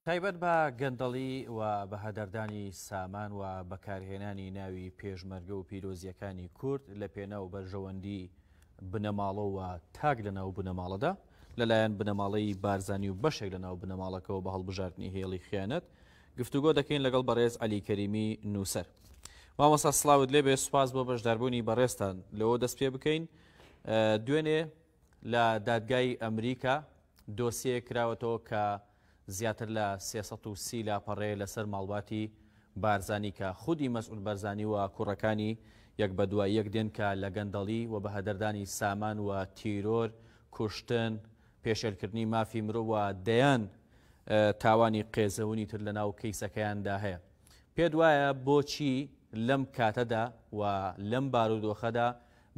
تایبەت بە گەندەڵی و بەهەدەردانی سامان و بەکارهێنانی ناوی پێشمەرگە و پیرۆزییەکانی کورد لە پێناو بەرژەوەندی بنەماڵە و تاک لە ناو بنەماڵەدا لەلایەن بنەماڵەی بارزانی و بەشێک لە ناو بنەماڵەکەەوە بە هەڵبژاردنی هێڵی خیانەت گفتوگۆ دەکەین لەگەڵ بەڕێز علی کەریمی نووسەر مامۆسا سلااوت لێبێ سوپاس بۆ بەشداربوونی بەڕێستان لەوە دەست پێ بکەین دوێنێ لە دادگای ئەمریکا دۆسیەیەک کراوەتەوە کە زیاتر لە سێ سەد و سی لاپەڕەیە لەسەر ماڵباتی بارزانی کە خودی مەسعود بەرزانی و کوڕەکانی یەک بە دوای یەک دێن کە لە گەندەڵی و بەهەدەردانی سامان و تیرۆر، کوشتن، پێشێلکردنی مافی مرۆڤ و دەیان تاوانی قێزەونی تر لەناو کەیسەکەیاندا هەیە. پێت وایە بۆچی لەم کاتەدا و لەم بارودۆخەدا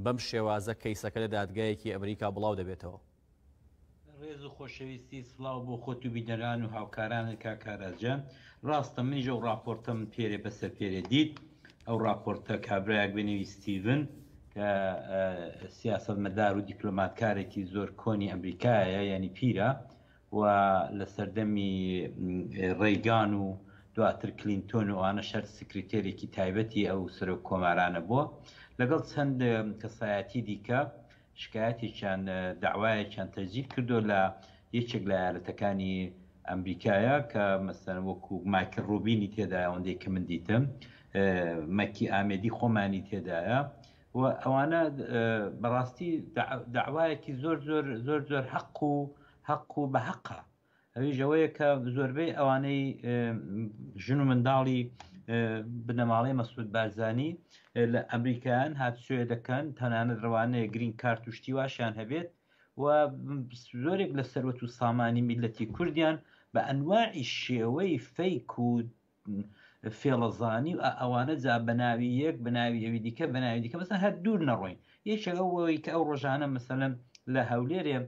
بەم شێوازە کەیسەکە لە دادگایەکی ئەمریکا بڵاو دەبێتەوە. ڕێز و خۆشەویستی سڵاو بۆ خۆت و بینەران و هاوکارانت کاک ئاراس جان ڕاستە منیش ئەو ڕاپۆرتە من پێرێ بەسەر پێرێ دیت ئەو ڕاپۆرتە کابرایەک بەنێوی ستیڤن کە سیاسەتمەدار و دیپلۆماتکارێکی زۆر کۆنی ئەمریکایە یانی پیرە و لە سەردەمی ڕێگان و دواتر کلینتۆن و ئەوانە شەر سکرتێرێکی تایبەتی ئەو سەرۆک کۆمارانە بووە لەگەڵ چەند کەسایەتی دیکە شکایەتێکیان داوایەکیان تەجدید کردو لە یەکێک لە یارەتەکانی ئەمریکایە کە مەسەن وەکو مایکل ڕوبینی تێدایە ئەوەندەی کە من دیتم مەکی ئامێدی خۆمانی تێدایە و ئەوانە بەڕاستی داوایەکی زۆر زۆر زۆر زۆر حەق و حەق و بە حەقا ئەویش ئەوەیە کە زۆربەی ئەوانەی ژن و منداڵی بنەماڵەی مەسود بارزانانی لە ئەمریکایان هاتسوێ دەکەن تەنانەت ڕوانەیە گرین کار توشتی واشیان هەبێت و زۆرێک لە سەروەت و سامانی میلەتی کوردیان بە ئەنواعی شێوەی فەیک و فێڵەزانی و ئەوانە جا بەناوی یەک بەناوی ئەوی دیکە بەناوی دیکە بەسە هەر دوور نەڕۆین یەکێک ئەوەوەی کە ئەو ڕۆژانە مەسەلەن لە هەولێرێ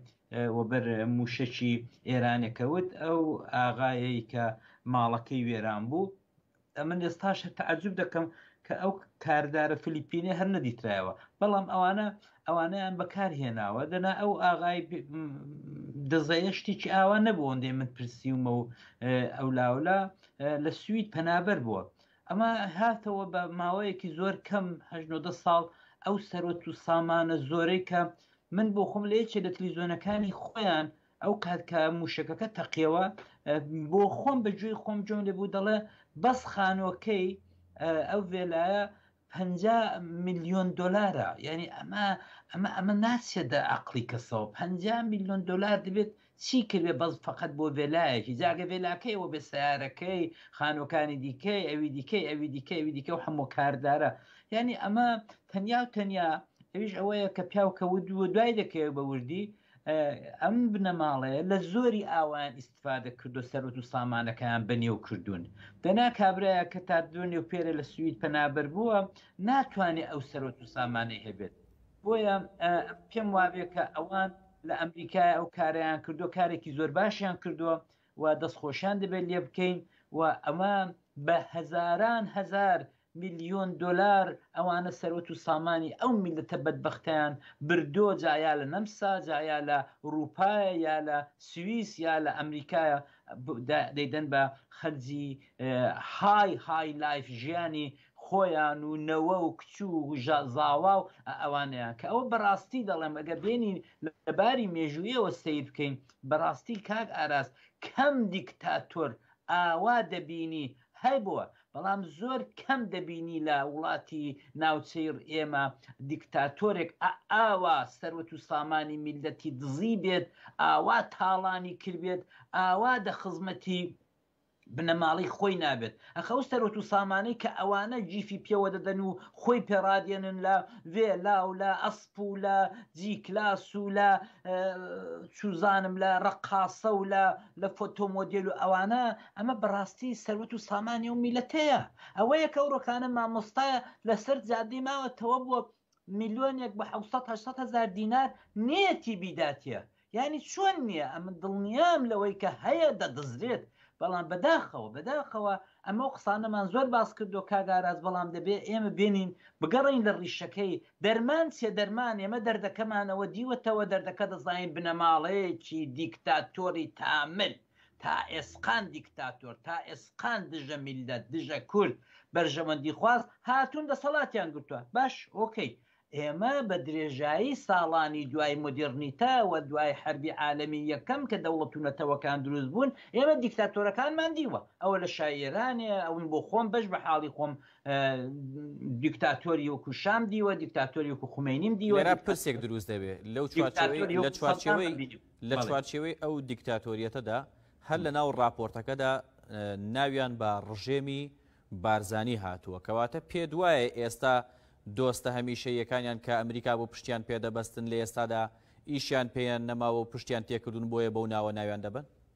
وەبەر موشەکی ئێرانەکەوت ئەو ئاغایەی کە ماڵەکەی وێران بوو ئەمن ئێستاش هەر تعجب دەکەم کە ئەو کاردارە فلیپینە هەر نەدیترایەوە بەڵام ئەوانە ئەوانەیان بەکار هێناوە دەنا ئەو ئاغای دەزەیە شتێکی ئاوا نەبوو ئەندێ من پرسیومە و ئەو لاولا لە سوید پەنابەر بووە ئەمە هاتەوە بە ماوەیەکی زۆر کەم هەژنۆدە ساڵ ئەو سەرۆت و سامانە زۆرەی کە من بۆ خۆم لە یەکێ لە تلیزۆنەکانی خۆیان ئەو کات کە موشەکەکە تەقیەوە بۆ خۆم بە گوێی خۆم جۆم لێ بوو دەڵێ بەس خانۆکەی ئەو ڤێلایە پەنجا ملیۆن دۆلارە یعنی ئەمە ئەمە ئەمە ناچێت دە عقلی کەسەوە پ ملیۆن دلار دەبێت چی کردێ بەس فقط بۆ ڤێلایەکی جاگە ڤێلاکەی ئەوە بێ سیارەکەی خانۆکانی دیکەی ئەوی دیکەی ئەوی دیکە ئەوی دیکە و هەموو کاردارە یعنی ئەمە تەنیا و تەنیا ئەویش ئەوەیە کە پیاوکەوت دووە دوای دەکەوێت بە وردی ئەم بنەماڵەیە لە زۆری ئاوایان ئیسفادە کردو سەرۆت و سامانەکەیان بەنێو کردوون دەنا کابراە کە تا دوێنێ و پێرە لە سوید پەنابەر بووە ناتوانێت ئەو سەرۆت و سامانەی هەبێت بۆیە پێم وابێت کە ئەوان لە ئەمریکای ئەو کاریان کردو کارێکی زۆر باشیان کردووە و دەستخۆشیان دەبێت لێ بکەین و ئەمە بە هەزاران هەزار ملیۆن دۆلار ئەوانە سەروەت و سامانی ئەو میللەتە بەدبەختەیان بردۆ جا یا لە نەمسا جا یا لە ئوروپایە یا لە سویس یا لە ئەمریکایە دەیدەن بە خەرجی های های لایف ژیانی خۆیان و نەوە و کچ و زاوا و ئەوانەیان کە ئەوە بەراستی دەڵێم ئەگەر بێنی لە باری مێژوویەوە سەیر بکەین بەراستی کاک ئاراس کەم دیکتاتۆر ئاوا دەبینی هەبووە بەڵام زۆر کەم دەبینی لە وڵاتی ناوچەی ئێمە دیکتاتۆرێک ئا ئاوا سەروەت و سامانی میللەتی دزی بێت ئاوا تاڵانی کردبێت ئاوا دە خزمەتی بنەماڵەی خۆی نابێت ئەخە ئەو سەرۆت و سامانەی کە ئەوانە جیفی پێوە دەدەن و خۆی پێڕادێنن لە ڤێلا و لە ئەسپ و لە جی کلاس و لە چوزانم لە ڕقاسە و لە لە فۆتۆمۆدیل و ئەوانە ئەمە بەڕاستی سەروەت و سامانی و میلەتەیە ئەوەیە کە ڕۆکانە مامۆستایە لەسەر جادی ماوە تەوە بووە میلیۆنێک بە 1970 هزار دینار نیەتی بیداتە ینی چۆن نییە ئەمە دڵنیام لەوەی کە هەیە دەدزرێت بەڵام بەداخەوە بەداخەوە ئەمە و قسانەمان زۆر باس کردو کاگاراز بەڵام دەبێ ئێمە بێنین بگەڕین لە ڕیشەکەی دەرمان چێ دەرمان ئێمە دەردەکەمانەوە دیوەتەوە دەردەکە دەزانین بنەماڵەیەکی دیکتاتۆری تامل تا ئێسقان دیکتاتۆر، تا ئێسقان دژە میللەت، دژە کورد، بەرژەوەندی خواز هاتوون دەسەڵاتیان گرتوە. باش، ئۆکەی. ئێمە بە درێژایی ساڵانی دوای مۆدێڕنیتە و دوای حەربی عالەمی یەکەم کە دەوڵەت و نەتەوەکان دروست بوون، ئێمە دیکتاتۆرەکانمان دیوە. ئەوە لە شای ئێرانێ، ئەوە من بۆ خۆم بەش بە حاڵی خۆم دیکتاتۆری وەکوو شام دیوە، دیکتاتۆری وەکوو خومەینیم دیوە، دیکتاتۆری وەکوو سەدام دیوە. لە چوارچێوەی ئەو دیکتاتۆریەتەدا هەر لە ناو راپۆرتەکەدا ناویان بە ڕژێمی بارزانی هاتووە کەواتە پێ دوایە ئێستا دۆستە هەمیشە یەکانیان کە ئەمریکا بۆ پشتیان پێدەبەستن لە ئێستادا ئیشیان پێیان نەماوە و پشتیان تێکردون بۆیە بەو ناوە ناویان دەبن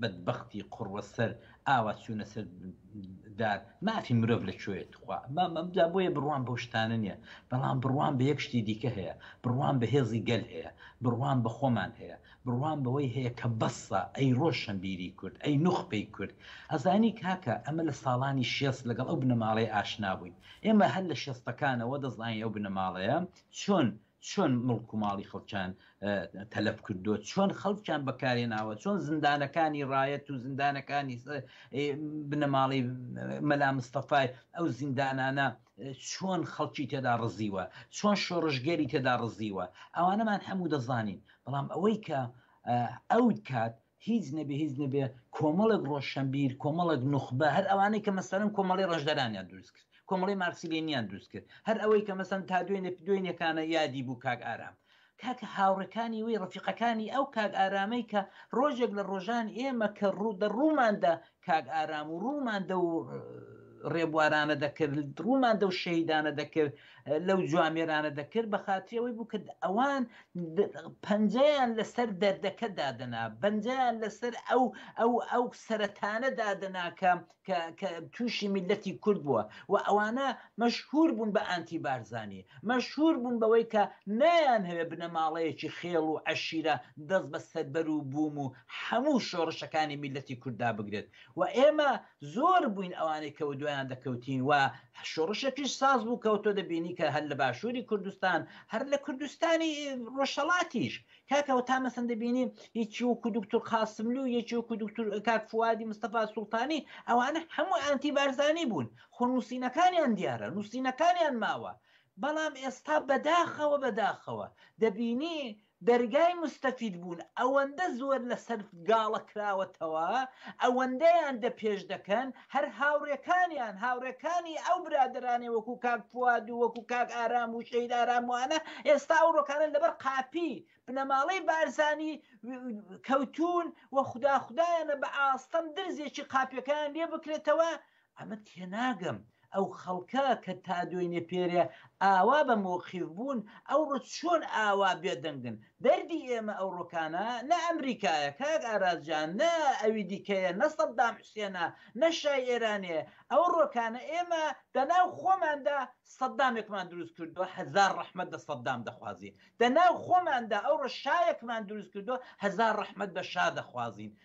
بەدبەختی قوڕوە سەر ئاوا چوونە سەر دار مافی مرۆڤ لە کوێیە توخوا مامەمدا بۆیە بڕوان بەو شتانە نییە بەڵام بڕوان بە یەک شتی دیکە هەیە بڕوان بە هێزی گەل هەیە بڕوان بە خۆمان هەیە بڕوان بەوەی هەیە کە بەسە ئەی ڕۆشنبیری کورد ئەی نوخپەی کورد ئەزانی کاکە ئەمە لە ساڵانی شێست لەگەڵ ئەو بنەماڵەی ئاشنا بووین ئێمە هەر لە شێستەکانەوە دەزانین ئەو بنەماڵەیە چۆن چۆن مڵک و ماڵی خەڵکیان تەلەف کردو چۆن خەڵکیان بەکارێ ناوە چۆن زیندانەکانی ڕایەت و زیندانەکانی بنەماڵی مەلا مستەفای ئەو زیندانانە چۆن خەڵکی تێدا ڕزیوە چۆن شۆڕژگەری تێدا ڕزیوە ئەوانەمان هەموو دەزانین بەڵام ئەوەی کە ئەو کات هیچ نەبێ هیچ نەبێ کۆمەڵێک ڕۆشەنبیر کۆمەڵێک نوخبە هەر ئەوانەی کە مەسەرم کۆمەڵی ڕژدەرانیان دروست کرد کۆمەڵی مارسیلینیان دروست کرد هەر ئەوەی کە مەسەن تا دوێنێ دوێنێکانە یادی بوو کاک ئارام کاک هاوڕەکانی وی ڕفیقەکانی ئەو کاک ئارامەی کە ڕۆژێک لە ڕۆژان ئێمە کە ڕوو دە ڕووماندا کاک ئارام و ڕوومان دەو ڕێبوارانە دەکرد ڕوومان دەو شەهیدانە دەکرد لەو جوامێرانە دەکرد بە خااتری ئەوەی بوو کە ئەوان پەنجەیان لەسەر دەردەکە دادەنا بەنجیان لەسەر ئەو ئەو ئەو سەرەتانە دادەناکە کە تووشی میلەتی کورد بووە و ئەوانە مەشهور بوون بە ئانتی بارزانانی مەشهور بوون بەوەی کە نایان هەوێ بنەماڵەیەکی خێڵ و عشیرە دەست بە سەربەر و بووم و هەموو شۆڕشەکانی میللەتی کورد دابگرێت و ئێمە زۆر بووین ئەوانەی کە ودوایان دەکەوتین و شۆڕشێکیش ساز بوو کە تۆ دەبینی کە هەر لە باشووری کوردستان هەر لە کوردستانی ڕۆژهەڵاتیش کاکە وە تا مەسەن دەبینی یەکی وەکو دوکتور قاسملو و یەکی وەکو دوکتور کاک فوادی مستەفا سوڵتانی ئەوانە هەموو ئانتی بارزانی بوون خۆ نووسینەکانیان دیارە نووسینەکانیان ماوە بەڵام ئێستا بەداخەوە بەداخەوە دەبینی دەرگای موستەفید بوون ئەوەندە زۆر لەسەر گاڵە کراوەتەوە ئەوەندەیان دە پێش دەکەن هەر هاوڕێکانیان هاوڕێکانی ئەو برادەرانەی وەکو کاک فواد و وەکو کاک ئارام و شەید ئارام وانە ئێستا ئەو ڕۆکانە لەبەر قاپی بنەماڵەی بارزانی کەوتون و خودا خودایانە بە ئاستەم درزێکی قاپیەکەیان لێ بکرێتەوە ئەمە تێناگەم ئەو خەڵکە کە تا دوێنێ پێرێ ئاوا بە مۆقیف بوون ئەوڕۆ چۆن ئاوا بێدەنگن دەردی ئێمە ئەو ڕۆکانە نە ئەمریکایە کاک ئارازجان نە ئەوی دیکەیە نە سەددام حسێنە نە شای ئێرانێ ئەو ڕۆکانە ئێمە دەناو خۆماندا سەددامێکمان دروست کردووە هەزار ڕەحمەت دە سەددام دەخوازین دەناو خۆماندا ئەو ڕشایەکمان دروست کردووە هەزار ڕەحمەت بە شا دەخوازین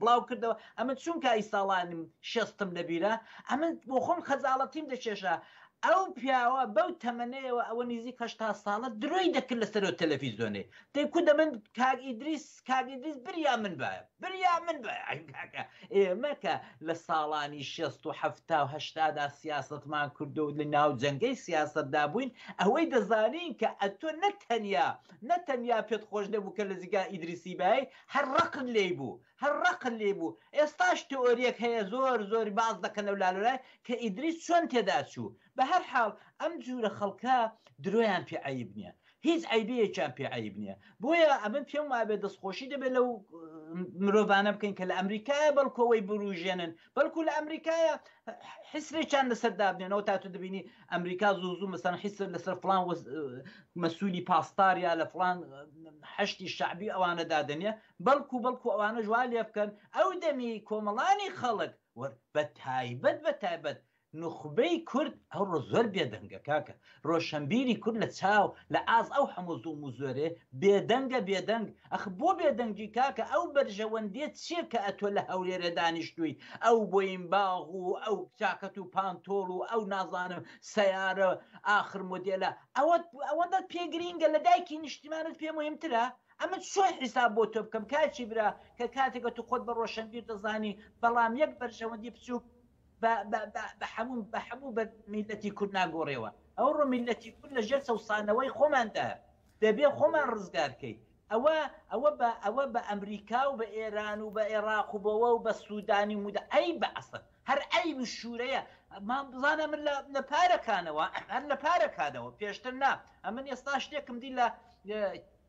بڵاوکردەوە ئەمن چون کای ساڵانم شەستم لەبیرە ئەمن بۆخۆم خەجاڵەتیم دەکێشا ئەو پیاوە بەو تەمەنەیەوە ئەوە نیزیک هەشتا ساڵە درۆی دەکرد لەسەرو تەلەفیزۆنێ دەی کو دەمن کاک ئیدریس کاک ئیدریس بریا من بایە بریا من بایە ئەی کاکە ئێمە کە لە ساڵانی شەست و حەفتا و هەشتادا سیاسەتمان کردو لە ناو جەنگەی سیاسەتدا بووین ئەوەی دەزانین کە ئەتۆ نەتەنیا نەتەنیا پێت خۆش نەبوو کە لە جیگا ئیدریسی بای هەر ڕقن لێی بوو هەر ڕقن لێی بوو ئێستاش تئۆریەک هەیە زۆر زۆر باس دەکەن لەو لالۆلای کە ئیدریس چۆن تێدا چوو بەهەر حاڵ ئەم جورە خەڵکە درۆیان پێ عەیب نیە هیچ عەیبەیەکیان پێ عەیب نیە بۆیە ئەمن پێم وابێ دەستخۆشی دەبێ لەو مرۆڤانە بکەین کە لە ئەمریکایە بەڵکو ئەوەی بوروژێنن بەڵکو لە ئەمریکایە حسرێکیان لەسەر دابنێنەوە تا تو دەبینی ئەمریکا زوو زوو مەسەن حسر لەسەر فلان مەسوولی پاسدار یا لە فلان هەشتی شعبی ئەوانە دادنێ بەڵکو بەڵکو ئەوانە ژوا لێ بکەن ئەو دەمی کۆمەڵانی خەڵک بە تایبەت بە تایبەت نوخبەی کورد ئەوڕۆ زۆر بێدەنگە کاکە ڕۆشەنبیری کورد لە چاو لە ئاز ئەو حەموو زوڵم و زۆرێ بێدەنگە بێدەنگ ئەخ بۆ بێدەنگی کاکە ئەو بەرژەوەندیە چیە کە ئەتۆ لە هەولێرێ دانیشتووی ئەو بۆین باغ و ئەو چاکەت و پانتۆڵ و ئەو نازانم سەیارە ئاخر مۆدێلە ئەوەت ئەوەندەت پێ گرینگە لە دایکی نیشتیمانت پێ مهمترە ئەمە چۆن حیساب بۆ تۆ بکەم کاچی برا کە کاتێکە تو خۆت بە ڕۆشەنبیر دەزانی بەڵام یەک بەرژەوەندی بچووک بە بە بە بە حەموو بە حەموو بە میللەتی کورد ناگۆڕێوە ئەوڕۆ میللەتی کورد لە ژێر چەوسانەوەی خۆماندا دەبێ خۆمان ڕزگار کەی ئەوە ئەوە بە ئەوە بە ئەمریکا و بە ئێران و بە ئێراق و بەوە و بە سوودانی و مودە ئەی بە ئەسڵ هەر ئەی و شوورەیە ما بزانە من لە لە پارەکانەوە هەر لە پارەکانەوە پێشتر نا ئەمن ئێستا شتێکم دی لە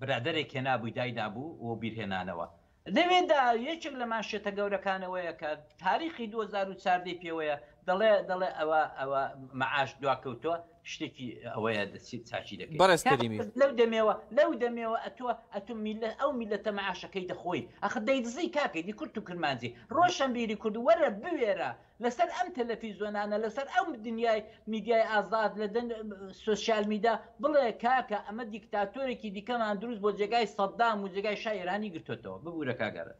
برادەرێک هێنابووی دایدابوو و بیرهێنانەوە لەوێدا یەکێک لە مانشێتە گەورەکانەوەیە کە تاریخی 2014 ی پێوەیە دەڵێ دەڵێ ئەوە ئەوە مەعاش دواکەوتووە شتێکی ئەوەیە دەچیت چاکی دەکەیت بەڕێز کەریمی لەو دەمێوە لەو دەمێوە ئەتووە ئەتوم میلە ئەو میلەتە مەعاشەکەی دەخۆی ئەخ دەیدزی کاکەی دی کورت و کرمانجی ڕۆشنبیری کورد وەرە بوێرە لەسەر ئەم تەلەفیزۆنانە لەسەر ئەو دنیای میدیای ئازاد لە دەن سۆسیال میدا بڵێ کاکە ئەمە دیکتاتۆرێکی دیکەمان دروست بۆ جێگای سەدام و جێگای شای ئێرانی گرتۆتەوە ببورە کاک ئارەس.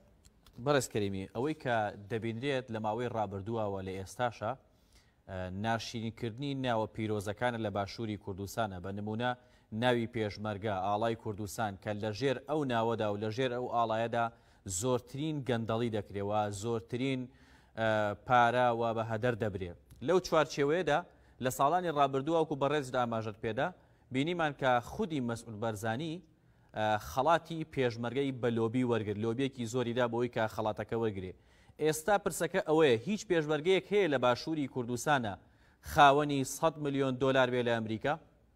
بەڕێز کەریمی ئەوەی کە دەبینرێت لە ماوەی ڕابردووە و لە ئێستاشا ناشیرین کردنی ناوە پیرۆزەکانە لە باشووری کوردستانە بە نموونە ناوی پێشمەرگە ئاڵای کوردستان کە لە ژێر ئەو ناوەدا و لە ژێر ئەو ئاڵایەدا زۆرترین گەندەڵی دەکرێ و زۆرترین پارە وا بە هەدەر دەبرێ لەو چوارچێوەیەدا لە ساڵانی ڕابردوواوکو بەڕێزت ئاماژەت پێدا بینیمان کە خودی مەسعود بەرزانی خەڵاتی پێشمەرگەی بە لۆبی وەرگر لۆبیەکی زۆریدا بۆی کە خەڵاتەکە وەرگێ ئێستا پرسەکە ئەوەیە هیچ پێشمەرگەیەک هەیە لە باشووری کوردستانە خاوەنی 100 ملیۆن دۆلار بێ لە ئەمریکا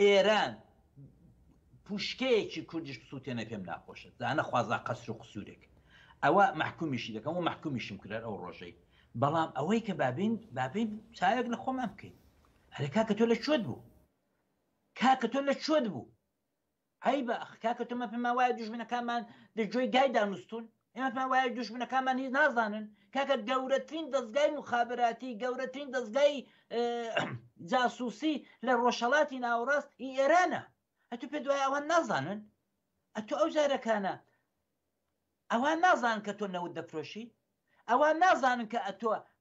ئێران پوشکەیەکی کوردیش بسوتێنێ پێم ناخۆشە جا نەخوازا قەسر و قسورێک ئەوە مەحکومیشی دەکەم و مەحکومیشم کرد ئەو ڕۆژەی بەڵام ئەوەی کە بابین بابین چاوێک لە خۆمان بکەین هەرە کاکە تۆ لە چۆت بوو کاکە تۆ لە چۆت بوو عیبە ئەخ کاکە تۆمە پێما وایە دوژمنەکانمان دەجۆی گای دانوستون ئێمە پێما وایە دوژمنەکانمان هیچ نازانن کاکە گەورەترین دەستگای مخابراتی گەورەترین دەستگای جاسوسی لە ڕۆژهڵاتی ناوەڕاست ئی ئێرانە ئەتو پێ دوای ئەوان نازانن ئەتو ئەو جارەکانە ئەوان نازان کە تۆ نەوت دەفرۆشی ئەوان نازانن کە ئەتۆ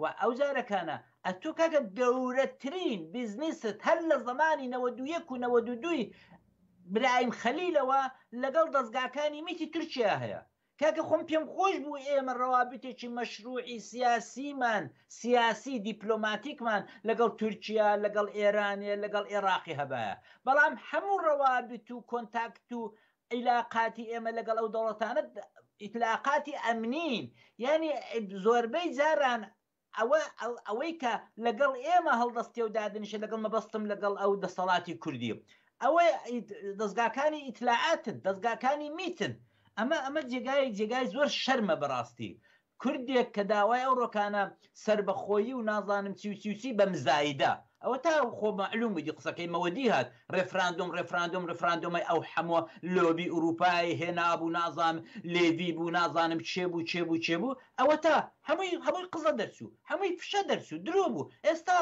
وە ئەو جارەکانە ئەتوو کاکە گەورەترین بیزنیست هەر لە زەمانی نەوەد و یەک و نەوەد و دووی برایم خەلیلەوە لەگەڵ دەزگاکانی میتی تورکیا هەیە کاکە خۆم پێم خۆش بوو ئێمە ڕەوابیتێکی مەشروعی سیاسیمان سیاسی دیپلۆماتیکمان لەگەڵ تورکیا لەگەڵ ئێرانێ لەگەڵ ئێڕاقی هەبایە بەڵام هەموو ڕەوابیت و کۆنتاکت و ئیلاقاتی ئێمە لەگەڵ ئەو دەوڵەتانە ئیتلاقاتی ئەمنین یعنی زۆربەی جاران ئەوە ئەوەی کە لەگەڵ ئێمە هەڵدەستێ و دادنیشە لەگەڵ مەبەستم لەگەڵ ئەو دەسەڵاتی کوردی ئەوە دەستگاکانی ئیتلاعاتن دەستگاکانی میتن ئەمە ئەمە جێگای جێگای زۆر شەرمە بەڕاستی کوردێک کە داوای ئەو ڕۆکانە سەربەخۆیی و نازانم چی و چی و چی بە مزایدە ئەوە تا خۆ مەعلوم بوو دی قسەکەی مەوەدی هات ڕێفراندۆم ڕێفراندۆم ڕێفراندۆمەی ئەو حەموە لۆبی ئوروپای هێنابوو نازانم لێڤی بوو نازانم کێ بوو کێ بوو کێ بوو ئەوە تا هەمووی هەمووی قزە دەرچوو هەمووی فشە دەرچوو درۆ بوو ئێستا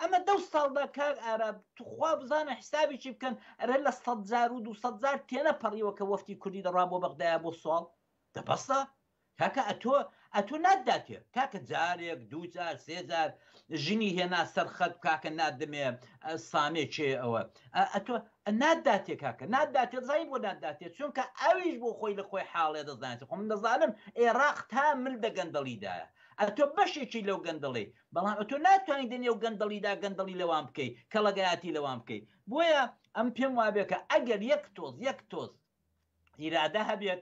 ئەمە دەو ساڵ دا کاک ئارا توخوا بزانە حیسابێکی بکەن ئەرێ لە سەد جار و دوو سەد جار تێنەپەڕیوە کە وەفتی کوردی دەڕوا بۆ بەغدایە بۆ سواڵ دە بەسە کاکە ئەتۆ ئەتۆ ناتداتێ کاکە جارێک دوو جار سێ جار ژنی هێنا سەر خەت کاکە نادمێ سامێ چێ ئەوە ئەتۆ ناتداتێ کاکە ناتداتێ زای بۆ ناتداتێ چونکە ئەویش بۆ خۆی لە خۆی حاڵێ دەزانێت خۆ من دەزانم ئێراق تا مل دە گەندەڵیدایە ئەتۆ بەشێکی لەو گەندەڵی بەڵام ئەتۆ ناتوانین دە نێو گەندەڵیدا گەندەڵی لەوان بکەی کەڵەگەیاتی لەوان بکەی بۆیە ئەم پێم وابێکە ئەگەر یەک تۆز یەک تۆز ئیرادە هەبێت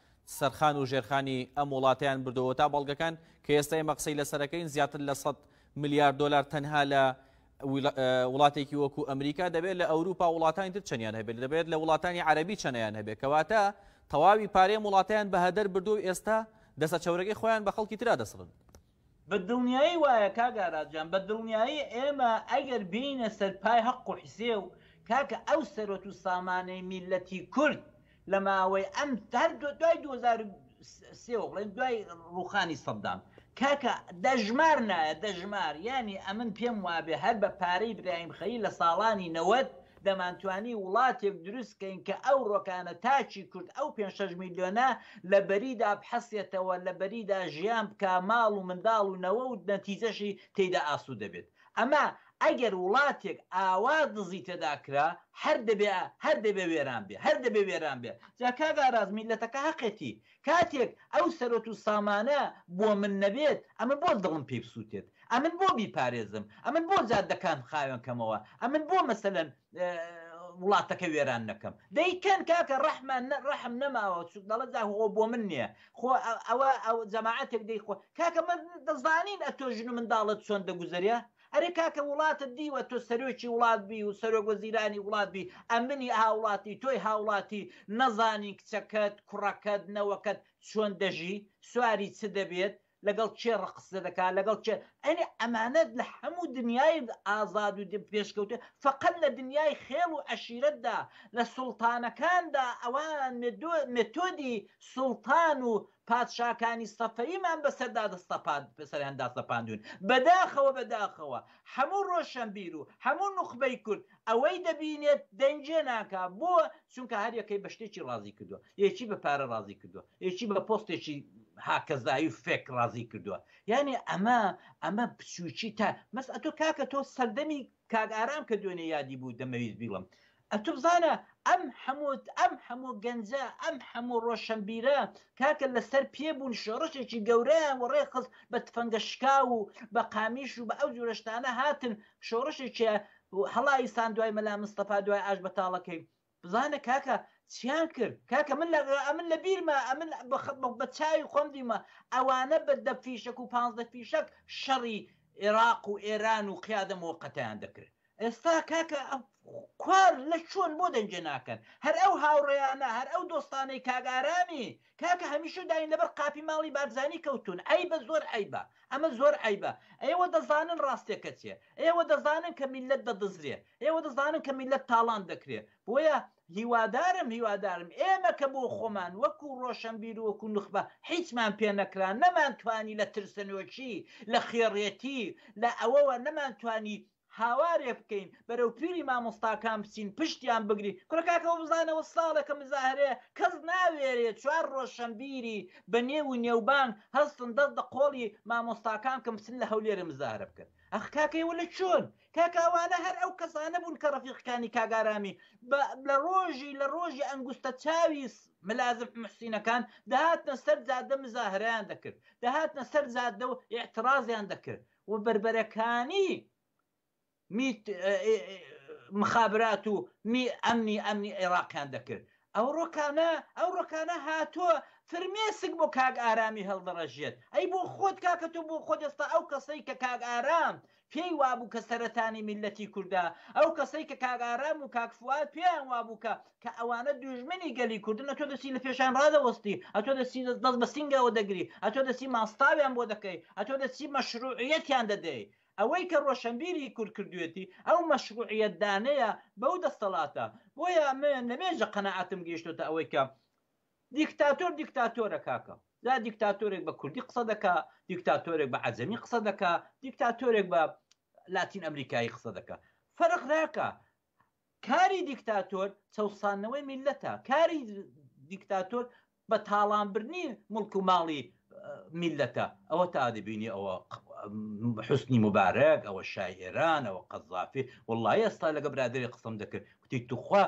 سەرخان و ژێرخانی ئەم وڵاتەیان بردەوە تا بەڵگەکان کە ئێستا ئێمە قسەی لەسەرەکەین زیاتر لە 100 ملیار دلار تەنها لە وڵاتێکی وەکو ئەمریکا دەبێت لە ئەوروپا وڵاتانی تر چەندیان هەبێت دەبێت لە وڵاتانی عەربی چەنەیان هەبێت کەواتە تەواوی پارەیە وڵاتیان بە هەدەر بردو ئێستا دەسە چەورەکەی خۆیان بە خەڵکی تررا دەسڕن بە دڵنیایی وایە کاک ئاراس جان بە دڵنیایی ئێمە ئەگەر بێینە سەر پای هەق و حسێو کاکە ئەو سەرۆت و سامانەی میللەتی کورد لە ماوەی ئەم هەر دوای دوو هەزار و سێ وە بڵێن دوای ڕووخانی سەدام کاکە دەژمار نایە دەژمار یانی ئەمن پێم وابێ هەر بە پارەی برایم خەلیل لە ساڵانی نەوەد دەمانتوانی وڵاتێک دروست کەین کە ئەو ڕۆکانە تاکی کورد ئەو پێنج شەش میلیۆنە لە بەریدا بحەسێتەوە لە بەریدا ژیان بکا ماڵ و منداڵ و نەوە و نەتیجەشی تێیدا ئاسوودە بێت ئەمە ئەگەر وڵاتێک ئاوا دزی تێدا کرا هەر دەبێ هەر دەبێ وێران بێ هەر دەبێ وێران بێ جا کاک ئاراس میللەتەکە هەقێتی کاتێک ئەو سەرۆت و سامانە بۆ من نەبێت، ئەمن بۆ دڵم پێی بسووتێت؟ ئەمن بۆ بیپارێزم؟ ئەمن بۆ جادەکان بخاوێن کەمەوە؟ ئەمن بۆ مەسەلەن وڵاتەکە وێران نەکەم؟ دەی کەن کاکە ڕەحمە ڕەحم نەماوە چ دەڵێ جا خۆ بۆ من نیە خۆ ئەوە ئەو جەماعەتێک دەی خۆ کاکە من دەزانین ئەتۆ ژن و منداڵت چۆن دەگوزەرێ ئەرێ کاکە وڵاتت دیوە تۆ سەرۆکی وڵات بی و سەرۆک وەزیرانی وڵات بی ئەمنی هاوڵاتی تۆی هاوڵاتی نەزانین کچەکەت کوڕەکەت نەوەکەت چۆن دەژی سواری چ دەبێت لەگەڵ کێ ڕق قسە دەکات لەگەڵ کێ ئەنی ئەمانە لە هەموو دنیای ئازاد و پێشکەوتوو فەقەت لە دنیای خێڵ و عەشیرەتدا لە سوڵتانەکاندا ئەوان مێتۆدی سوڵتان و پادشاکانی سەفەویمان بەسەردا دەستەپاند سەریان داسەپاندوون بەداخەوە بەداخەوە هەموو ڕۆشەنبیر و هەموو نوخبەی کورد ئەوەی دەبینێت دەنگێ ناکا بۆ چونکە هەر یەکەی بە شتێکی ڕازی کردووە یەکی بە پارە ڕازی کردووە یەکی بە پۆستێکی هاکەزایی و فێک ڕازی کردووە یعنی ئەمە ئەمە بچووکی تا مەس ئەتۆ کاکە تۆ سەردەمی کاک ئارام کە دوێنێ یادی بوو دەمەویست بیڵم ئەتو بزانە ئەم هەموو ئەم هەموو گەنجە ئەم هەموو ڕۆشەنبیرە کاکە لەسەر پێ بوون شۆڕشێکی گەورەیان وەڕێ خست بە تفەنگە شکاو و بە قامیش و بە ئەو جورە شتانە هاتن شۆڕشێکێ هەڵایی سان دوای مەلا مستەفا دوای ئاش بەتاڵەکەی بزانە کاکە چیان کرد کاکە من لە ئەمن لە بیرمە ئەمن بە چاوی خۆم دیمە ئەوانە بە دە فیشەک و پانزدە فیشەک شەڕی عێراق و ئێران و قیادە موقتیان دەکرد ئێستا کاکە کوار لە چۆن بۆ دەنگێ ناکەن هەر ئەو هاوڕێیانە هەر ئەو دۆستانەی کاگارامی کاکە هەمیشە داین لەبەر قاپی ماڵی بارزانانی کەوتون ئەی بە زۆر ئەیبە ئەمە زۆر ئەیبە ئێوە دەزانن ڕاستێکە چێ ئێوە دەزانن کە میلەت دەدزرێ ئێوە دەزانن کە میلەت تاڵان دەکرێ بۆیە هیوادارم هیوادارم ئێمە کە بۆ خۆمان وەکو ڕۆشنبیر و وەکو نخبە هیچمان پێ نەکرا نەمانتوانی لە ترسەنۆکی لە خێڕێتی لە ئەوەوە نەمانتوانی هاوارێ بکەین بەرەو پیری مامۆستاکان بچین پشتیان بگری کورە کاکەەوە بزانەوە ساڵێکە مزاهرەیە کەس ناوێرێ چوار ڕۆشەمبیری بە نێو و نێوبانگ هەستن دەست دە قۆڵی مامۆستاکان کەم بچن لە هەولێرە مزاهرە بکەن ئەخ کاکەیەوە لە چۆن کاکاوانە هەر ئەو کەسانە بوون کە ڕفیقەکانی کاگارامی لە ڕۆژی لە ڕۆژی ئەنگوستە چاوی ملازم محسینەکان دەهاتنە سەر جادە مزاهرەیان دەکرد دەهاتنە سەر جادە و اعتراضیان دەکرد و بەربەرەکانی میت مخابرات و می ئەمنی ئەمنی عێراقیان دەکرد ئەو ڕۆکانە ئەو ڕۆکانە هاتووە فرمێسک بۆ کاک ئارامی هەڵدەڕژێت ئەی بۆ خۆت کاکە تۆ بۆ خۆت ئێستا ئەو کەسەی کە کاک ئارام پێی وابوو کە سەرەتانی میلەتی کوردە ئەو کەسەی کە کاک ئارام و کاکفوات پێیان وابوو کە کە ئەوانە دوژمنی گەلی کوردن ئەتۆ دەچی لەپێشیان ڕادەوەستی ئەتۆ دەچی دەست بە سینگەوە دەگری ئەتۆ دەچی ماستاویان بۆ دەکەی ئەتۆ دەچی مەشروعیەتیان دەدەی ئەوەی کە ڕۆشەنبیری کورد کردویەتی ئەو مەشروعیەت دانەیە بەو دەستەڵاتە بۆیە من لەمێژە قەناعەتم گەیشتۆتە ئەوەی کە دیکتاتۆر دیکتاتۆرە کاکە جا دیکتاتۆرێک بە کوردی قسە دەکا دیکتاتۆرێک بە عەجەمی قسە دەکا دیکتاتۆرێک بە لاتین ئەمریکایی قسە دەکا فەرق ناکە کاری دیکتاتۆر چەوساندنەوەی میللەتە، کاری دیکتاتۆر بە تاڵان بردنی موڵک و ماڵی میللەتە، ئەوە تا دەبینی ئەوە حوسنی موبارەک، ئەوە شای ئێران، ئەوە قەزافی، وەڵڵاهی ئێستا لەگە برادەرێک قسەم دەکرد کوتی توخوا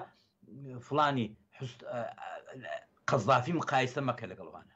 فڵانی قەزافی مقایسە مەکە لەگەڵ ئەوانە.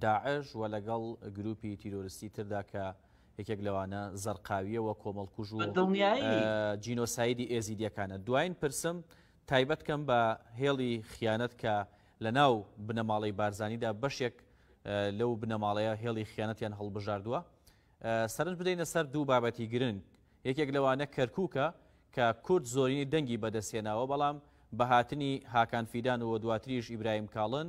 داعش و لەگەڵ گرووپی تیرۆرستی تردا کە یەکێک لەوانە زەرقاوییە و کۆمەڵکوژ و جینۆسایدی ئێزیدییەکانە. دوایین پرسم تایبەت کەم بە هێڵی خیانەت کە لە ناو بنەماڵەی بارزانیدا بەشێک لەو بنەماڵەیە هێڵی خیانەتیان هەڵبژاردووە سەرنج بدەینە سەر دوو بابەتی گرنگ یەکێک لەوانە کەرکووکە کە کورد زۆرینەی دەنگی بەدەستهێناوە بەڵام بە هاتنی هاکان فیدان و دواتریش ئیبراهیم کاڵن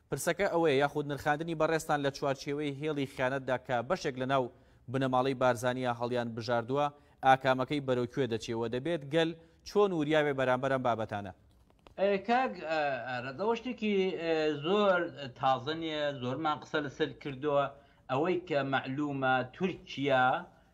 پرسەکە ئەوەیە یاخود نرخاندنی بەڕێزتان لە چوارچێوەی هێڵی خیانەتدا کە بەشێک لە ناو بنەماڵەی بارزانیە هەڵیان بژاردووە ئاکامەکەی بەرەو کوێ دەچێ وە دەبێت گەل چۆن وریابێ بەرامبەر ئەم بابەتانە؟ کاک ئارەز ئەوە شتێکی زۆر تازە نیە زۆرمان قسە لەسەر کردوە ئەوەی کە مەعلومە تورکیا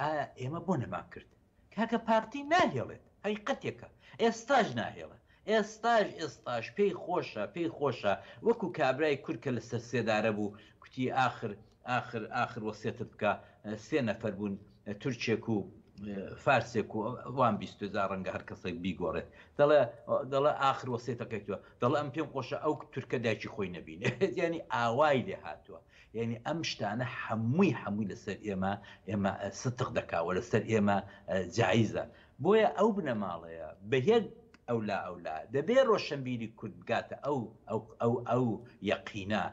ئایا ئێمە بۆ نەمان کرد؟ کاکە پارتی ناهێڵێت هەقیقەتێکە ئێستاش ناهێڵە ئێستاش ئێستاش پێی خۆشە پێی خۆشە وەکو کابرای کورد کە لەسەر سێدارە بوو کوتی ئاخر ئاخر ئاخر وەسێتم بکە سێ نەفەر بوون تورکێک و فارسێک و وان بیستو جا ڕەنگە هەر کەسێک بیگۆڕێت دەڵێ دەڵێ ئاخر وەسێتەکەی تۆ دەڵێ ئەم پێم خۆشە ئەو تورکە دایکی خۆی نەبینێت یعنی ئاوای لێ هاتووە یانی ئەم شتانە حەمووی حەمووی لەسەر ئێمە ئێمە ستق دەکا وە لەسەر ئێمە جایزە بۆیە ئەو بنەماڵەیە بەیەک ئەولا ئەولا دەبێ ڕۆشەنبیری کورد بگاتە ئەو ئەو ئەو ئەو یەقینە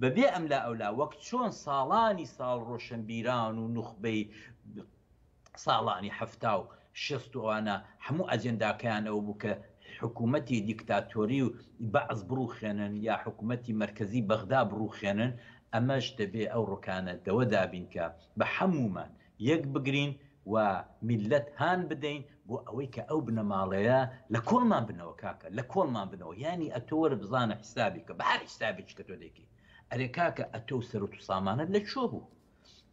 بەبێ ئەملا ئەولا وەک چۆن ساڵانی ساڵ ڕۆشەنبیران و نوخبەی ساڵانی حەفتا و شەست و ئەوانە هەموو ئەجێنداکەیان ئەوە بوو کە حکوومەتی دیکتاتۆری و بەعس بڕووخێنن یا حکوومەتی مەرکەزی بەغدا بڕووخێنن، ئەمەش دەبێ ئەو ڕکانە دەوە دابین کە بە هەموومان یەک بگرین و میللەت هان بدەین بۆ ئەوەی کە ئەو بنەماڵەیە لە کۆڵمان بنەوە کاکە لە کۆڵمان بنەوە یانی ئەتۆ وەرە بزانە حیسابی کە بە هەر حیسابێکی کە تۆ دەیکەی ئەرێ کاکە ئەتۆ و سەروت و سامانت لە کوێ بوو؟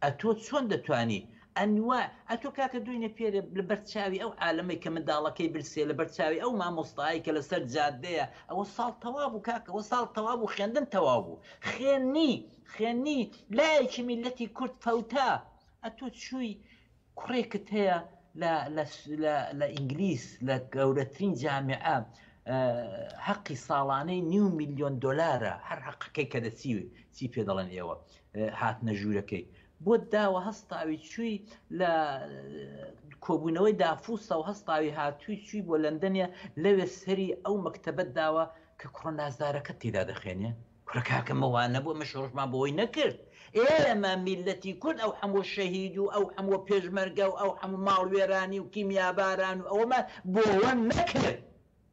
ئەتۆ چۆن دەتوانی ئەنوا ئەتۆ کاکە دۆینێ پێرێ لە بەر چاوی ئەو عالەمەی کە منداڵەکەی برسێ لە بەر چاوی ئەو مامۆستایەی کە لە سەر جادەیە ئەوە ساڵ تەوا بوو کاکە ئەوە ساڵ تەوا بوو خوێندن تەوا بوو خوێنی خوێنی لایەکی میلەتی کورد فەوتا ئەتۆ چووی کوڕێکت هەیە لە لە لە لە ئینگلیس لە گەورەترین جامیعە حەقی ساڵانەی نیو میلیۆن دلارە هەر حەقەکەی کە دەچی چی پێ دەڵێن ئێوە هات نەژوورەکەی بۆ داوە هەستاوی چووی لە کۆبوونەوەی دافوسە و هەستاوی هاتووی چووی بۆ لەندەنێ لەوێ سەری ئەو مەکتتەبەت داوە کە کوڕە نازدارەکە تێدا دەخێنێ کورە کاکە مەوە نەبوو ئەمە شۆڕشمان بۆی نەکرد ئێمە میللەتی کورد ئەو حەموو شەهید و ئەو حەموو پێشمەرگە و ئەو حەموو ماڵوێرانی و کیمیاباران و ئەوەمان بۆوە نەکرد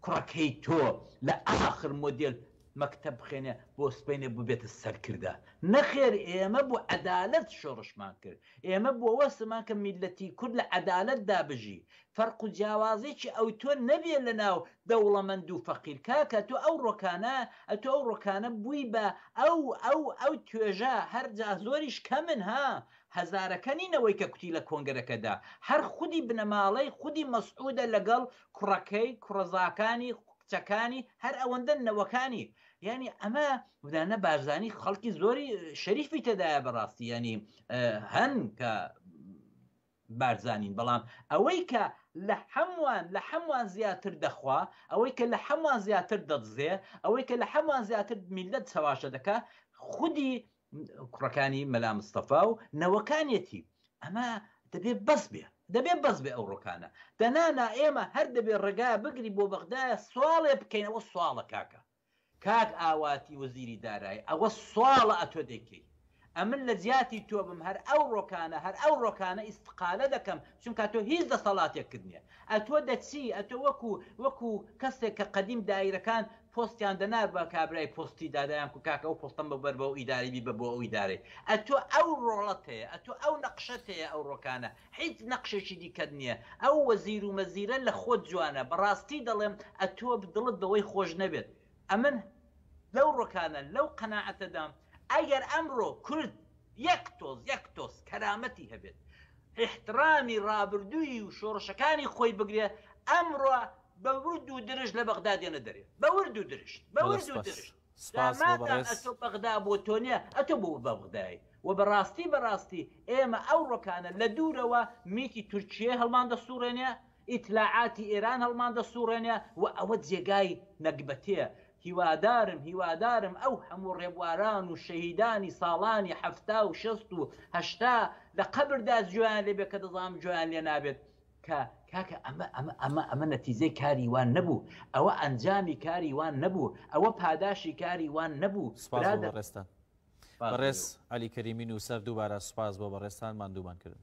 کوڕە کەی تۆ لە ئاخر مۆدێل مەکتەب بخێنێ بۆ سبەینێ بووبێتە سەرکردە نەخێر ئێمە بۆ عەدالەت شۆڕشمان کرد ئێمە بۆوە سمان کە میللەتی کورد لە عەدالەتدا بژی فەرق و جیاوازێکی ئەوتۆ نەبێ لە ناو دەوڵەمەند و فەقیر کاکە تۆ ئەو ڕۆکانە ئەتۆ ئەو ڕۆکانە بووی بە ئەو ئەو ئەو توێژە هەر جا زۆریش کەمن ها هەزارەکە نین ئەوەی کە کوتی لە کۆنگرەکە دا هەر خودی بنەماڵەی خودی مەسعودە لە گەڵ کوڕەکەی کوڕەزاکانی کچەکانی هەر ئەوەندەن نەوەکانی یانی ئەمە ودانە بارزانی خەڵکی زۆری شەریفی تێدایە بەڕاستی یانی هەن کە بارزانین بەڵام ئەوەی کە لە هەموان لە هەموان زیاتر دەخوا ئەوەی کە لە هەموان زیاتر دەدزێ ئەوەی کە لە هەموان زیاتر میللەت چەواشە دەکا خودی کوڕەکانی مەلا مستەفا و نەوەکانیەتی ئەمە دەبێ بەس بێ دەبێ بەس بێ ئەو ڕۆکانە دەنا نا ئێمە هەر دەبێ ڕێگا بگری بۆ بەغدایە سواڵێ بکەینەوە سواڵە کاکە کاک ئاواتی وەزیری دارایی ئەوە ساڵە ئەتۆ دەیکەی ئەمن لەجیاتی تۆ بم هەر ئەو ڕۆکانە هەر ئەو ڕۆکانە ئیستقالە دەکەم چونکا تۆ هیچ دەسەڵاتێکت نیە ئەتۆ دەچی ئەتۆ وەکو وەکو کەسێک کە قەدیم دایرەکان پۆستیان دەنا بە کابرای پۆستی دا دەیان کو کاکە ئەو پۆستەم ببەر بەو ئیدارەی بیبە بۆ ئەو ئیدارەی ئەتۆ ئەو ڕۆڵەت هەیە ئەتۆ ئەو نەقشەت هەیە ئەو ڕۆکانە هیچ نەقشێکی دیکەت نیە ئەو وەزیر و مەزیرە لە خۆت جوانە بەڕاستی دەڵێم ئەتۆ دڵت بەوەی خۆش نەبێت ئەمن لەو ڕۆکانە لەو قەناعەتەدام ئەگەر ئەمڕۆ کورد یەک تۆز یەک تۆز کەرامەتی هەبێت ئیحتڕامی ڕابردووی و شۆڕشەکانی خۆی بگرێ ئەمڕۆ بە ورد و درشت لە بەغدا دێنە دەرێ بە ورد و درشت بە ورد و درشت. سپاس بۆ بەڕێز. ئەتۆ بەغدا بۆ تۆ نیە ئەتۆ بۆ بەغدای وە بەڕاستی بەڕاستی ئێمە ئەو ڕۆکانە لە دوورەوە میتی تورکیەی هەڵمان دەسوڕێنێ ئیتلاعاتی ئێران هەڵمان دەسوڕێنێ وە ئەوە جێگای نەگبەتێ هیوادارم هیوادارم ئەو هەموو ڕێبواران و شەهیدانی ساڵانی حەفتا و شەست و هەشتا لە قەبردا جۆیان لێبێ کە دەزانم جۆیان لێنابێت کە کاکە ئەمە ئەمە ئەمە ئەمە نەتیجەی کاری وان نەبوو ئەوە ئەنجامی کاری وان نەبوو ئەوە پاداشی کاری وان نەبوو سپاس بۆ بەڕێزتان بەڕێز عەلی کەریمی نووسەر دووبارە سپاس بۆ بەڕێزتان ماندوومان کردن.